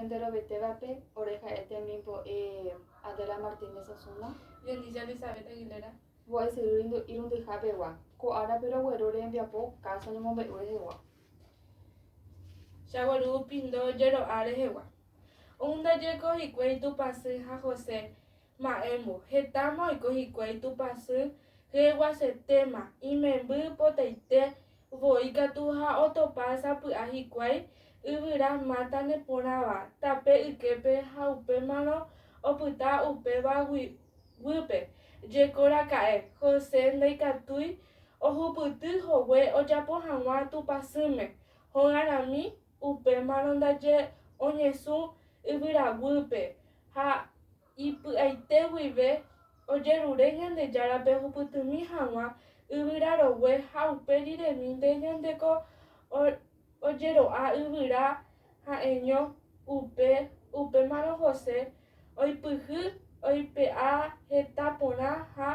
Enterovetévape, ore ha'e temimbo'e Adela Martínez Osuna. Yeliya Elizabeth Aguilera. Mbo'esyry irundyhápegua. Ko árape rogueru rembiapo káso ñemombe'u rehegua. Chagueru pindo jero'a rehegua. Oundajeko hikuái Tupãsy ha José Ma'ẽmbo, hetáma oiko hikuái Tupãsy hyeguasetéma, imemby potaite voi katu ha otopa sapy'a hikuái yvyra máta neporãva tape yképe ha upémarõ opyta upéva guýpe. Jekoraka'e, José ndaikatúi ohupyty hogue ojapo hag̃ua Tupãsýme, hogarãmi, upémarõ ndaje oñesũ yvyraguýpe, ha ipy'aite guive ojerure Ñandejárape ohupytymi hag̃ua yvyra rogue ha upe riremínte ñandeko ojero'a yvyra ha'eño upe, upémarõ José oipyhy oipe'a heta porã ha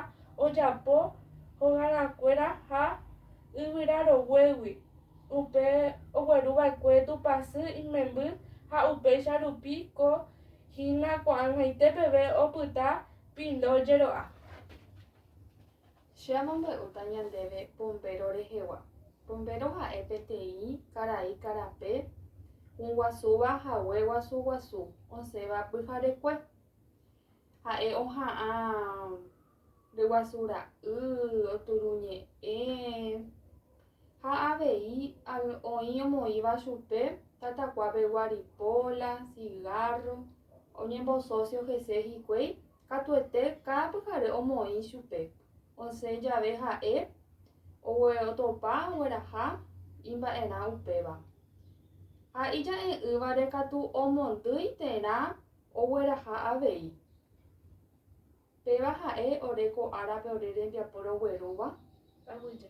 ojapo hogarãkuéra ha yvyra roguégui. upe ogueru va'ekue Tupã sy imemby ha upéicha rupi ko hína ko'ag̃aite peve opyta pindo jero'a. Che amombe'úta ñandéve pombéro rehegua. Pombéro ha'e peteĩ karai karape guasúva hague guasu guasu osẽva pyharekue. Ha'e oha'ã ndeguasura'y, oturuñe'ẽ, ha avei oĩ omoĩva chupe tatakua pegua ripola, cigarro, oñembosocio hese hikuái, katuete káda pyhare omoĩ chupe, osẽ jave ha'e otopa ogueraha imba'erã upéva. Ha ija'e'ỹvare katu omondýi terã ogueraha avei. Péva ha'e ore ko árape ore rembiapo roguerúva? Aguyje.